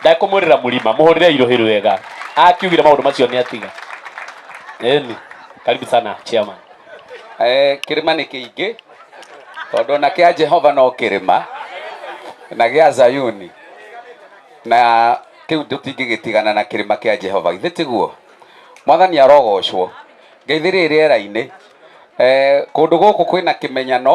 ndakũmwĩrĩra mũrima mũhũrĩre irũhĩ rwega akiugire maũndũ macio nĩ atiga eni karibu sana chairman Eh, kĩrĩma nĩ kĩingĩ tondũ ona kĩa jehova no kĩrĩma na gĩa zayuni na kĩu tũtingĩgĩtigana na kĩrĩma kĩa jehova githĩ tiguo mwathani arogocwo ngeithĩrĩ rĩera-inĩ eh, kũndũ gũkũ kwĩna kĩmenyano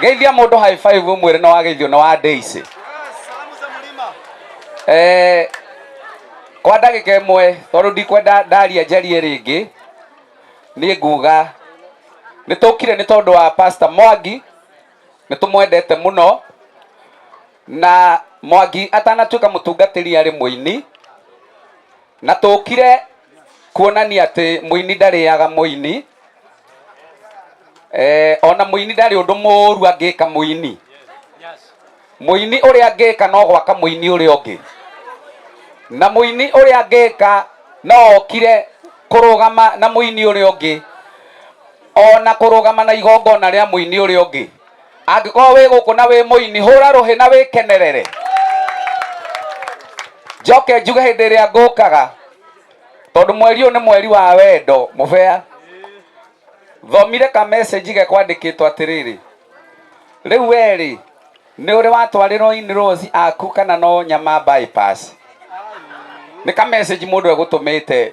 geithia mũndũ high five ũmwĩre nĩ wageithio nĩ wa Daisy eh, kwa ndagĩka ĩmwe tondũ ndikwenda ndaria njarie rĩngĩ nĩ nguga nĩ tũkire nĩ tondũ wa pastor mwangi nĩ tũmwendete mũno na mwangi atanatuĩka mũtungatĩri arĩ mũini na tũkire kuonania atĩ mũini ndarĩaga mũini eh, ona mũini ndarĩ ũndũ mũru angĩka mũini mũini ũrĩa angĩka no gwaka mũini ũrĩa ũngĩ na mũini ũrĩa angĩka no okire kũrũgama na mũini ũrĩa ũngĩ ona kũrũgama na igongona rĩa mũini ũrĩa ũngĩ angĩkorwo wĩ gũkũ na wĩ mũini hũra rũhĩ na wĩkenerere njoke njuge hĩndĩ ĩrĩa ngũkaga tondũ mweri ũyũ nĩ mweri wa wendo mũbea thomire ka message ge kwandĩkĩtwo atĩrĩrĩ rĩu werĩ nĩ ũrĩ watwarĩrwo in rose aku kana no nyama bypass nĩ ka message mũndũ egũtũmĩte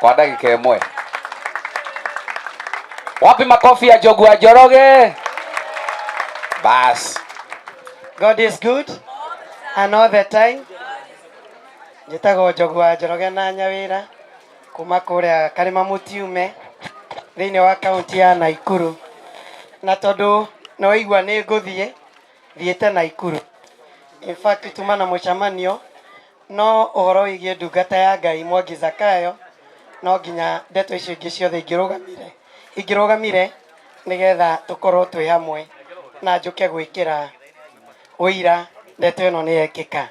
kwa ndagika imwe wapi makofi ya jogu ya joroge basi God is good and all the time. Njĩtagwo Njogu wa Njoroge na Nyawĩra kuma kũrĩa Karĩma Mũtiume thĩinĩ wa kaunti ya Naikuru. Na tondũ nĩ waigua nĩ ngũthiĩ, thiĩte Naikuru. In fact, tuma na mũcemanio No ũhoro wĩgiĩ ndungata ya Ngai Mwangi Zakayo, no nginya ndeto icio ingĩ ciothe ingĩrũgamire, ingĩrũgamire nĩgetha tũkorwo twĩ hamwe na njũke gwĩkĩra ũira ndeto ĩno nĩ yekĩka.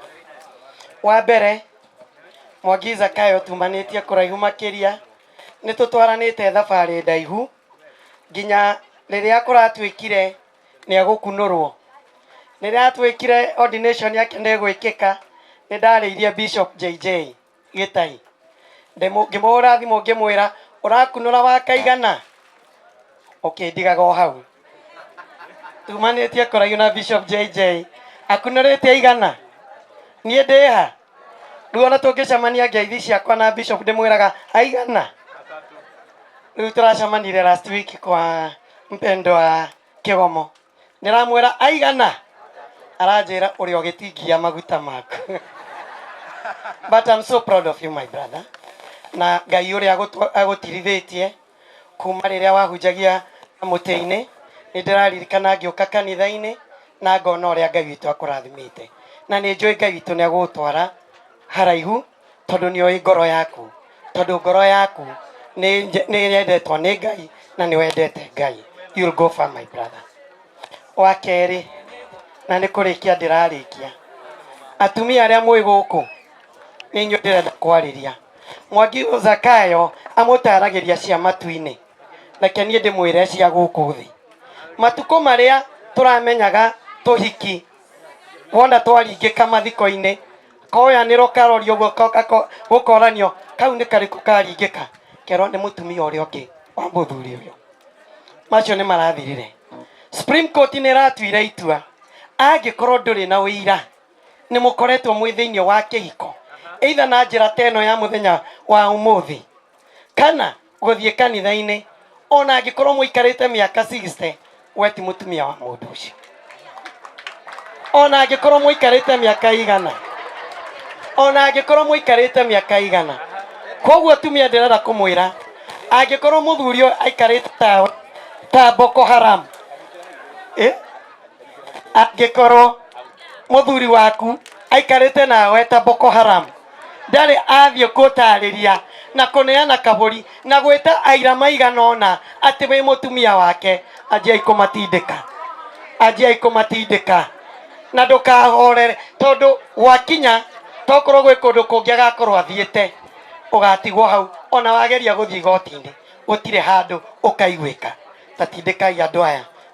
Wa mbere, Mwangi Zakayo tumanĩtie kũraihu makĩria, nĩ tũtwaranĩte thabarĩ ndaihu nginya rĩrĩa kũratuĩkire, nĩ egũkunũrwo. Rĩrĩa twĩkire ordination yake nĩ ĩgwĩkĩka, nĩ ndarĩirie Bishop JJ Gĩtai. Ndĩmũ- Ngĩmũhũra thimũ ngĩmwĩra ũrakunũra wa kaigana? Ũkĩndigaga o hau. Tumanĩtie kũraihu na Bishop JJ. Akunũrĩte aigana? Niĩ ndĩha? rĩu ona tũngĩcemania ngeithi ciakwa na bishop ndĩmwĩraga aigana rĩu tũracemanire last week kwa mpendo wa kĩgomo ndĩramwĩra aigana aranjĩra ũrĩa ũgĩtingia maguta maku but I'm so proud of you my brother na ngai ũrĩa agũtwa- agũtirithĩtie Kuma rĩrĩa wahunjagia na mũtĩ-inĩ, nĩ ndĩraririkana ngĩũka kanitha-inĩ na ngona ũrĩa Ngai witũ akũrathimĩte. Na nĩ njũĩ Ngai witũ nĩ egũgũtwara haraihu tondũ nĩ oĩ ngoro yaku, tondũ ngoro yaku nĩ yendetwo nĩ Ngai na nĩ wendete Ngai. You'll go far my brother. Wa kerĩ, na nĩ kũrĩkia ndĩrarĩkia, atumia arĩa mwĩ gũkũ nĩ inyuĩ ndĩrenda kwarĩria. mwangi zakayo amũtaaragĩria cia matu-inĩ reke niĩ ndĩmwĩre cia gũkũ thĩ matukũ marĩa tũramenyaga tũhiki wona twaringĩka mathiko-inĩ koyanĩrwo karorio ũguo ko- gako- gũkoranio kau nĩ karĩkũ karingĩka kerwo nĩ mũtumia ũrĩa ũngĩ wa mũthuri ũyũ macio nĩ marathirire supreme court nĩ ĩratuire itua angĩkorwo ndũrĩ na ũira nĩ mũkoretwo mwĩ thĩinĩ wa kĩhiko either na njĩra ta ĩno ya mũthenya wa ũmũthĩ kana gũthiĩ kanitha-inĩ ona angĩkorwo mũikarĩte mĩaka 60 we ti mũtumia wa mũndũ ũcio ona angĩkorwo mũikarĩte mĩaka igana ona angĩkorwo mũikarĩte mĩaka igana koguo tumia ndĩrenda kũmwĩra angĩkorwo mũthuri ũyũ aikarĩte ta ta boko haram eh? angĩkorwo mũthuri waku aikarĩte nawe ta boko haram ndarĩ athiĩ kũtarĩria na kũneana kabũri na gwĩta aira maigana ũna atĩ wĩ mũtumia wake anjiai kũmatindĩka anjiai kũmatindĩka na ndũkahorere tondũ gwakinya tokorwo gwĩ kũndũ kũngĩ agakorwo athiĩte ũgatigwo hau ona wageria gũthiĩ igoti-inĩ gũtirĩ handũ ũkaiguĩka tatindĩkai andũ aya